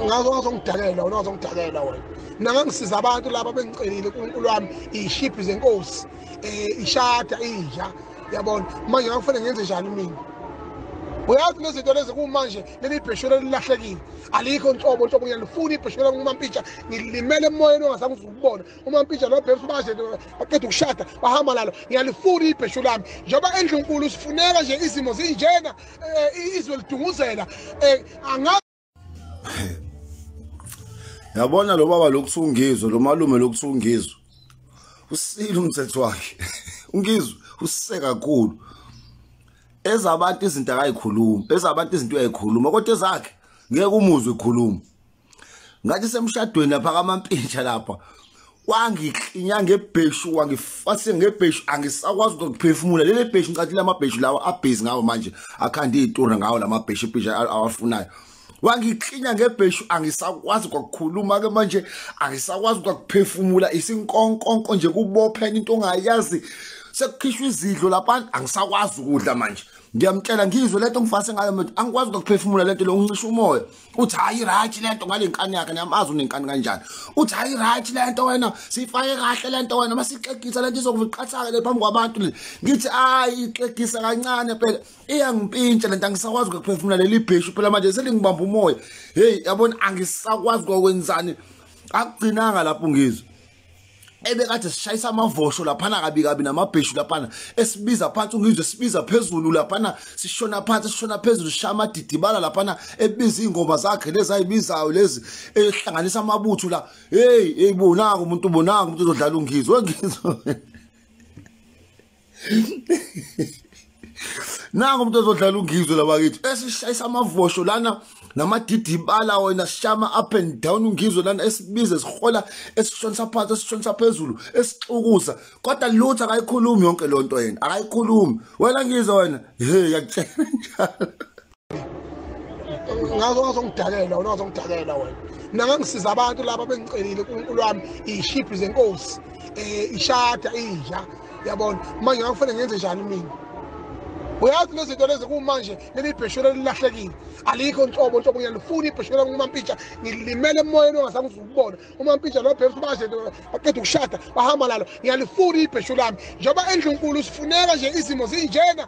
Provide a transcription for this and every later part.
ngazo ngazongidakela wena ngazongidakela wena mina ngangisiza abantu laba bengicelile unkulunkulu wami iyishiphi zenkosi um ishada inja yabona manje ngakufanele ngenze njani mina uyazi nezinto lezi kumanje leli bheshwela lilahlekile alikho nhlobo nhlobo ngiyalifuna ibheshwela kumampitsha ngilimele emoyeni ongasangizukubona umampija nobhebs baze baqeda ukushada bahamba lalo ngiyalifuna ibheshu lami njengoba endlunkulu sifuneka nje izimo zinjena eh, izwe lidunguzela eh, angazi yabona lo baba lokuthi ungizwe lo malume lokuthi ungizwe usile umthetho wakhe ungizwe usise kakhulu ezabantu izinto akayikhuluma ezabantu izinto uyayikhuluma kodwa ezakhe ngeke umuzwe ikhuluma ngathi semshadweni lapha kamampintsha lapha wangiklinya ngebheshu wangifase ngebheshu angisakwazi ukuphefumula leli bheshu ngicathi lamabheshu lawa abhizi ngawo manje akhanda itura ngawo lamabheshu ibhisha awafunayo wangiklinya ngebheshu angisakwazi ukukhuluma ke manje angisakwazi ukuphefumula isinkonkonko nje kubophena into ongayazi sekukhishwa izidlo lapha angisakwazi ukudla manje ngiyamtshela ngizwe lento ngifase ngayo manje angikwazi ukuphefumula lento lo uncisha umoya uthi hayi right lento ngalenkani yakhe niyamazi unenkani kanjani uthi hayi right lento wena sifake kahle lento wena masixegisa lento izokuviqathaka le phambi kwabantu le ngithi hayi ixegisa kancane phela iyangimpintsha lento angisakwazi ukuphefumula leli bhishu phela manje selingibamba umoya hey yabona angisakwazi kokwenzani akugcinanga lapho ngizwe ebekade sishayisa amavosho laphana kabi kabi namabheshu laphana esibiza phansi ungizwe sibiza phezulu laphana sishona phansi sishona phezulu sishaya amadidibala laphana ebiza iy'ngoma zakhe lezi ayibizayo lezi ehlanganisa amabuthu la heyi heyi bonako umuntu bonako umuntu uzodlala ungizwe ngizwe nangu umuntu ozodlala ungizwe labakithi esishayisa amavosho lana namadidibala wena sishama up and down ungizwe lana esibize sihola esishonisa phansi esishonisa phezulu esixukuza kodwa lutho akayikhulumi yonke lonto yena akayikhulumi wena ngizwe wena he yakutshela njalo ngazo wazongidakela wena wazongidakela wena mina ngangisiza abantu laba bengicelile unkulunkulu wami iyishibhi zenkosi um ishada inja yabona manje ngakufanele ngenze njani mina uyazi lezi zinto lezi kumanje leli bhesholo elilahlekile alikho nhlobo nhlobo ngiyalifuna ibhesholo kumampitsha ngilimele emoyeni ongazange uzukubona umampitsha lo bhebs baje baqeda ukushada bahamba lalo ngiyalifuna ibhesholo lami njengoba endlunkulu sifuneka nje izimo zinjena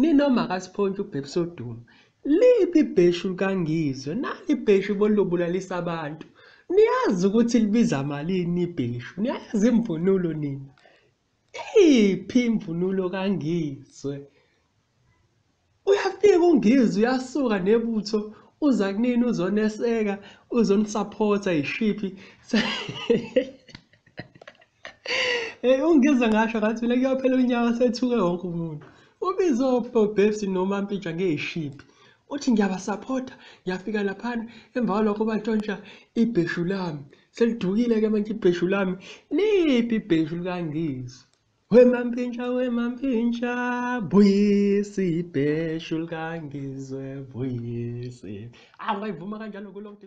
Nino makasiphontshe ubhebhi sodumo. Liphi ibheshu likaNgizwe? Nali ibheshu bolubulalisa abantu. Niyazi ukuthi libiza malini ibheshu? Niyayazi imvunulo nina? Iphi imvunulo kaNgizwe? Uyafika uNgizwe uyasuka nebutho uza kunini uzoneseka, uzonisaphotha yishiphi. Hey ungizwe ngasho ngathi mina kuyophela unyaka sethuke wonke umuntu. Ubizo Bobs noma Mpija ngeyishiphi. Uthi ngiyabasupporta, ngiyafika laphana emva kwalokho batshontsha ibheshu lami. Selidukile ke manje ibheshu lami. Liphi ibheshu likangizwe? We mampintsha we mampintsha buyisa ibheshu likangizwe buyisa. Angayivuma kanjalo kulokhu